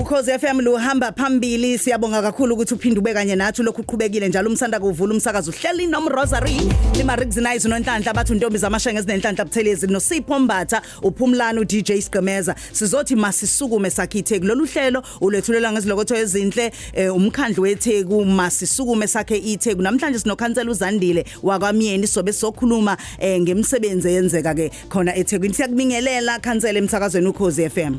Ukhozi FM luhamba phambili siyabonga kakhulu ukuthi uphinde ube kanye nathi lokhu uqhubekile njalo umsanda kuvula umsakazo uhleli nom Rosary lima Rigzinize nonhlanhla abathi untombi zamashenge ezinenhlanhla buthelezi noSipho Mbatha uphumlana uDJ Sigqemeza sizothi masisukume sakhithi kulolu hlelo ulethulela ngezilokotho ezinhle eh, umkhandlu weTheku masisukume sakhe iTheku namhlanje sinokhansela uZandile wakwamyeni sobe sokhuluma eh, ngemisebenzi eyenzeka ke khona eThekwini siyakubingelela khansela emsakazweni ukhozi FM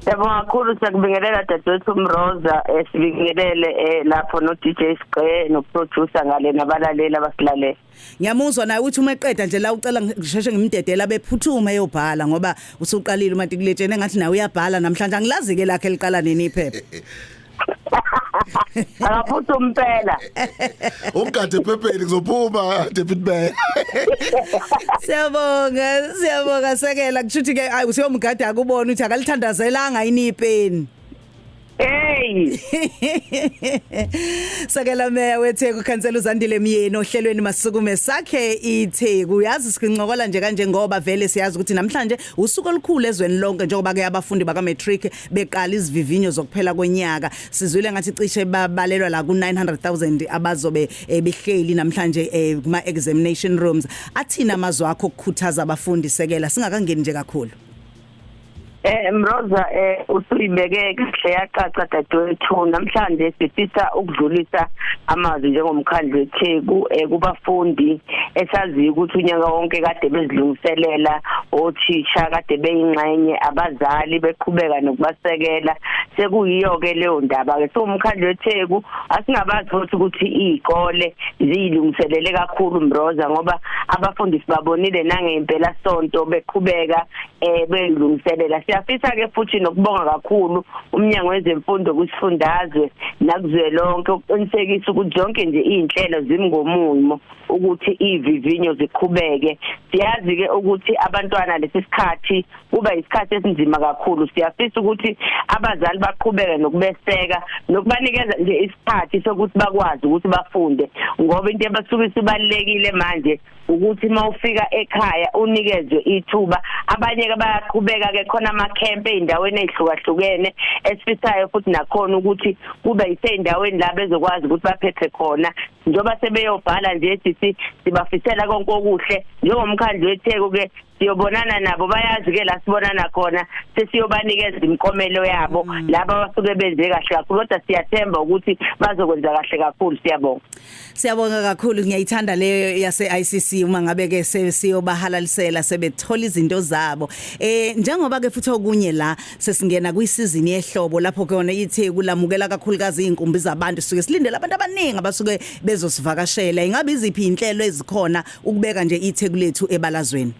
Siyabonga kakhulu siyakubingelela dadewethu Mroza eh, sibingelele eh, lapho no DJ Sqe no producer ngale nabalaleli abasilalele. Ngiyamuzwa naye ukuthi uma eqeda nje la ucela ngisheshe ngimdedela bephuthume eyobhala ngoba usuqalile uma tikuletshene ngathi nawe uyabhala namhlanje angilazi ke lakhe liqala nini iphepha. akaphuthe umpela ugade phepheni kuzophuma David Bay siyabonga siyabonga sekela kushuthi ke ayi usiyomgada akubona ukuthi akalithandazelanga yini ipeni Hey. Sakela meya weTheku khansela uZandile Myeni ohlelweni masukume sakhe iTheku. Uyazi sincokola nje kanje ngoba vele siyazi ukuthi namhlanje usuku olukhulu ezweni lonke njengoba ke abafundi baka matric beqala izivivinyo zokuphela konyaka sizwile ngathi cishe babalelwa la ku 900000 abazobe eh, behleli namhlanje eh, kuma examination rooms athina amazwi akho ukukhuthaza abafundi sekela singakangeni nje kakhulu Eh Mroza eh usuyibeke kahle yacaca dadewethu namhlanje sifisa ukudlulisa amazwi njengomkhandlu weTheku eh kubafundi esaziyo ukuthi unyaka wonke kade bezilungiselela othisha kade beyingxenye abazali beqhubeka nokubasekela sekuyiyo ke leyo ndaba ke so umkhandlu weTheku asingabazi futhi ukuthi izikole ziyilungiselele kakhulu Mbroza ngoba abafundisi babonile nangempela sonto beqhubeka eh beyilungiselela siyafisa ke futhi nokubonga kakhulu umnyango wezemfundo kusifundazwe nakuzwelonke ukuqinisekisa ukuthi zonke nje izinhlelo zimngomumo ukuthi ivivinyo ziqhubeke siyazi ke ukuthi abantwana lesisikhathi kuba isikhathi esinzima kakhulu siyafisa ukuthi abazali baqhubeke nokubeseka nokubanikeza nje isikhathi sokuthi bakwazi ukuthi bafunde ngoba into ebasuke isibalekile manje ukuthi uma ufika ekhaya unikezwe ithuba abanye ke bayaqhubeka ke khona ama camp eindaweni ezihlukahlukene esifisayo futhi nakhona ukuthi kube iseindaweni la bezokwazi ukuthi baphephe khona njoba sebeyobhala nje sithi sibafisela konke okuhle njengomkhandlu weTheku ke siyobonana nabo bayazi ke la sibonana khona sesiyobanikeza imikomelo yabo mm. laba basuke benze kahle kakhulu kodwa siyathemba ukuthi bazokwenza kahle kakhulu siyabonga siyabonga kakhulu ngiyayithanda leyo yase ICC uma ngabe ke siyobahalalisela sebethola izinto zabo eh njengoba ke futhi okunye la sesingena kwisizini yehlobo lapho ke yona ithi kulamukela kakhulukazi izinkumbi zabantu suke silindele abantu abaningi abasuke bezosivakashela ingabe iziphi inhlelo ezikhona ukubeka nje itheku lethu ebalazweni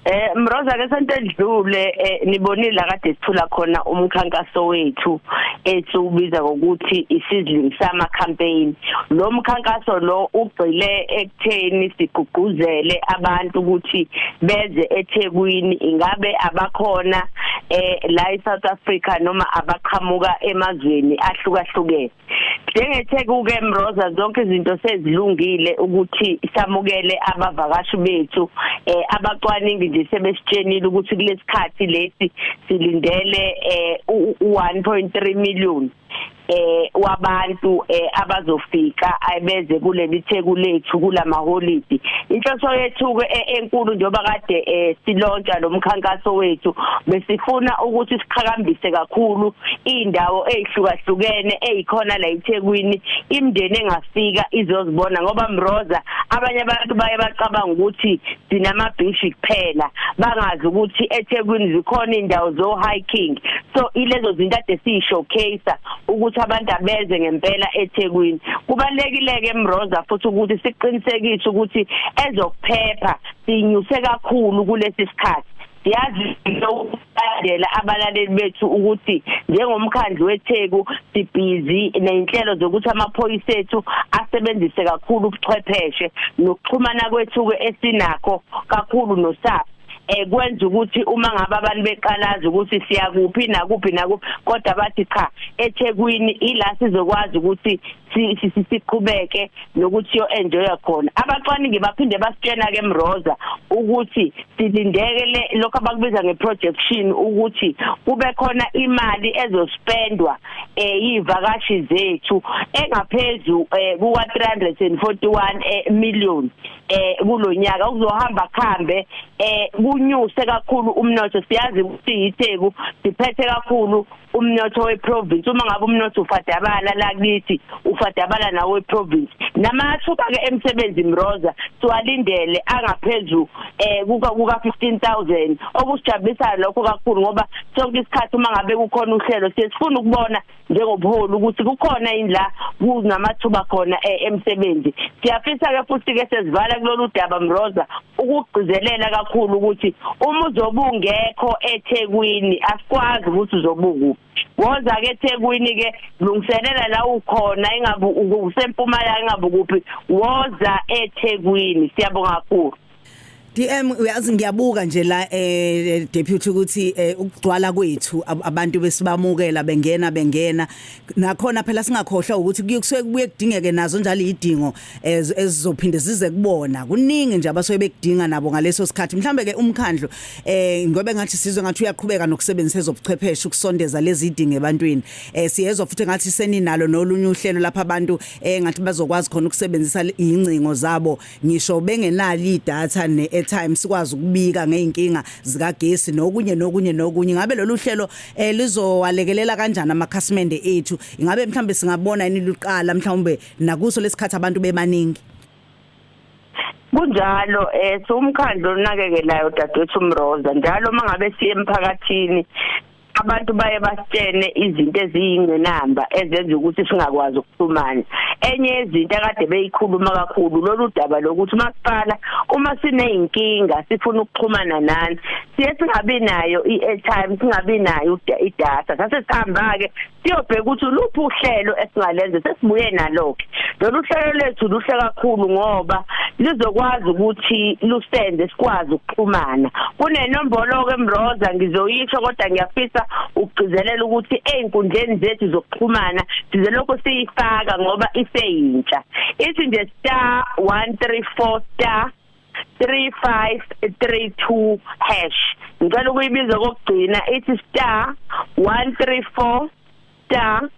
Eh Mroza ke sento edlule eh, nibonile kade sithula khona umkhankaso wethu ethi ubiza ngokuthi isizling sama campaign lo mkhankaso lo ugcile ekutheni sigqugquzele abantu ukuthi beze eThekwini ingabe abakhona eh la eSouth Africa noma abaqhamuka emazweni ahlukahlukene njengetheku-ke mroza zonke izinto sezilungile ukuthi samukele abavakashi bethu um abacwaningi nje sebesitshenile ukuthi kulesi khathi lesi silindele um u-one point three million eh wabantu eh abazofika ayibeze kuleli theku lethu kulamaholidi inhloso yethu ke eh, enkulu njengoba kade eh, silontsha lomkhankaso wethu besifuna ukuthi siqhakambise kakhulu indawo ezihlukahlukene ezikhona la eThekwini imndeni engafika izozibona ngoba Mroza abanye abantu baye bacabanga ukuthi sinama beach kuphela bangazi ukuthi eThekwini zikhona indawo zo hiking so ilezo zinto ade si showcase ukuthi abantu abeze ngempela eThekwini kubalekile ke Mroza futhi ukuthi siqinisekise ukuthi ezokuphepha sinyuse kakhulu kulesi sikhathi Siyazi ukulandela abalaleli bethu ukuthi njengomkhandlu weTheku sibhizi nezinhlelo zokuthi amaphoyisa ethu asebenzise kakhulu ubuchwepheshe nokuxhumana kwethu ke esinakho kakhulu noSAP ekwenza eh, ukuthi uma ngabe abantu beqalaza ukuthi siyakuphi nakuphi nakuphi kodwa bathi cha eThekwini ila sizokwazi ukuthi siqhubeke nokuthi yo enjoya khona abacwaningi baphinde basitshena ke Mroza ukuthi silindeke lokho abakubiza ngeprojection ukuthi kube khona imali ezospendwa eyivakashi eh, zethu engaphezulu eh, kuka 341 eh, million eh kulonyaka uzohamba khambe eh kunyuse kakhulu umnotho siyazi ukuthi yitheku siphethe kakhulu umnotho weprovince uma ngabe umnotho ufadabala la kithi ufadabala nawo weprovince namathuba ke emsebenzi mroza siwalindele angaphezulu eh kuka kuka 15000 okusijabulisayo lokho kakhulu ngoba sonke isikhathi uma ngabe kukhona uhlelo sesifuna ukubona njengobuholi ukuthi kukhona yini la kunamathuba khona eh, emsebenzi siyafisa ke futhi ke sesivala kulolu daba mroza ukugcizelela kakhulu ukuthi uma uzobungekho eThekwini asikwazi ukuthi uzobuku woza ke eThekwini ke lungiselela la ukhona ingabe usempumalanga ingabe kuphi woza eThekwini siyabonga kakhulu DM uyazi ngiyabuka nje la eh deputy ukuthi eh, ukugcwala kwethu abantu besibamukela bengena bengena nakhona phela singakhohlwa ukuthi kuyokusuke kubuye kudingeke nazo njalo idingo ezizophinde zize kubona kuningi nje abasuke bekudinga nabo ngaleso sikhathi mhlambe ke umkhandlo eh ngobe ngathi sizwe ngathi uyaqhubeka nokusebenzisa ezobuchwepheshe ukusondeza lezi dinge ebantwini eh siyezwa futhi ngathi seninalo nolunye uhlelo lapha abantu eh ngathi bazokwazi khona ukusebenzisa incingo zabo ngisho bengenali idatha ne airtime sikwazi ukubika ngeinkinga zika gesi nokunye nokunye nokunye ngabe lolu hlelo eh lizowalekelela kanjani amakhasimende ethu ingabe mhlambe singabona ini luqala mhlawumbe nakuso lesikhathi abantu bebaningi kunjalo eh siwumkhandlo onakekelayo dadewethu Mroza njalo mangabe siye emphakathini abantu baye basitshene izinto eziyingcinamba ezenza ukuthi singakwazi ukuxhumana enye yezinto akade beyikhuluma kakhulu lolu daba lokuthi masiqala uma sineyinkinga sifuna ukuxhumana nani siye singabi nayo i-airtime singabi nayo idata sase sihamba ke siyobheka ukuthi luphi uhlelo esingalenza sesibuye nalo-ke lolu hlelo lethu luhle kakhulu ngoba lizokwazi ukuthi lusenze sikwazi ukuxhumana kunenombolo-ke mroza ngizoyisho kodwa ngiyafisa ukugcizelela ukuthi ey'nkundleni zethu zokuxhumana size lokhu siyifaka ngoba iseyintsha ithi nje star one three four star 3532 hash ngicela ukuyibiza kokugcina ithi star 134 star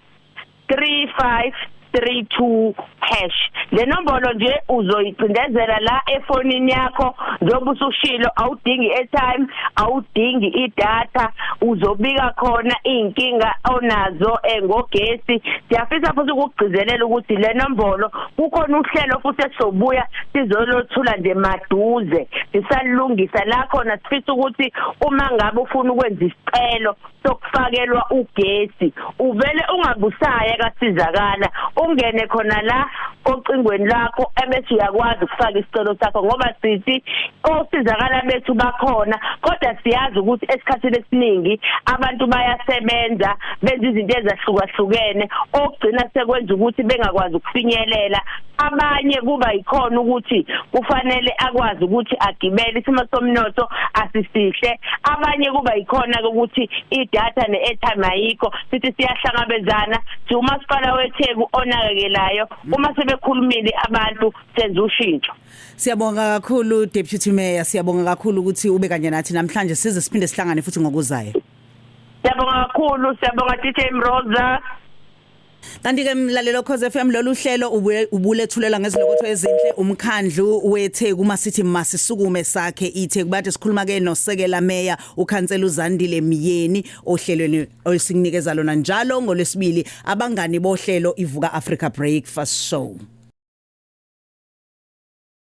35 32 hash le nombolo nje uzoyicindezela la efonini yakho njengoba usushilo awudingi airtime awudingi idata uzobika khona inkinga onazo engogesi siyafisa futhi ukugcizelela ukuthi le nombolo kukhona uhlelo futhi esizobuya sizolothula nje maduze sisalungisa la khona sifisa ukuthi uma ngabe ufuna ukwenza isicelo sokufakelwa ugesi uvele ungabusaya kasizakala ungene khona la ocingweni lakho ebese uyakwazi ukufaka isicelo sakho ngoba sithi osizakala bethu bakhona kodwa siyazi ukuthi esikhathini esiningi abantu bayasebenza benza izinto ezahlukahlukene okugcina sekwenza ukuthi bengakwazi ukufinyelela abanye kuba yikhona ukuthi kufanele akwazi ukuthi agibele isimo somnotho asisihle abanye kuba yikhona ukuthi idata ne-airtime ayikho sithi siyahlangabezana siwumasipala wetheku onakekelayo uma sebekhulumile abantu senza ushintsho siyabonga kakhulu deputy mayor siyabonga kakhulu ukuthi ube kanye nathi namhlanje size siphinde sihlangane futhi ngokuzayo Siyabonga kakhulu, siyabonga DJ Mroza. Kanti ke mlalelo Khoze FM lolu hlelo ubulethulela ngezilokotho ezinhle umkhandlu weTheku uma sithi masisukume sakhe iTheku bathi sikhuluma ke nosekela meya ukhansela uZandile Myeni ohlelweni olisinikeza lona njalo ngolesibili abangani bohlelo ivuka Africa Breakfast Show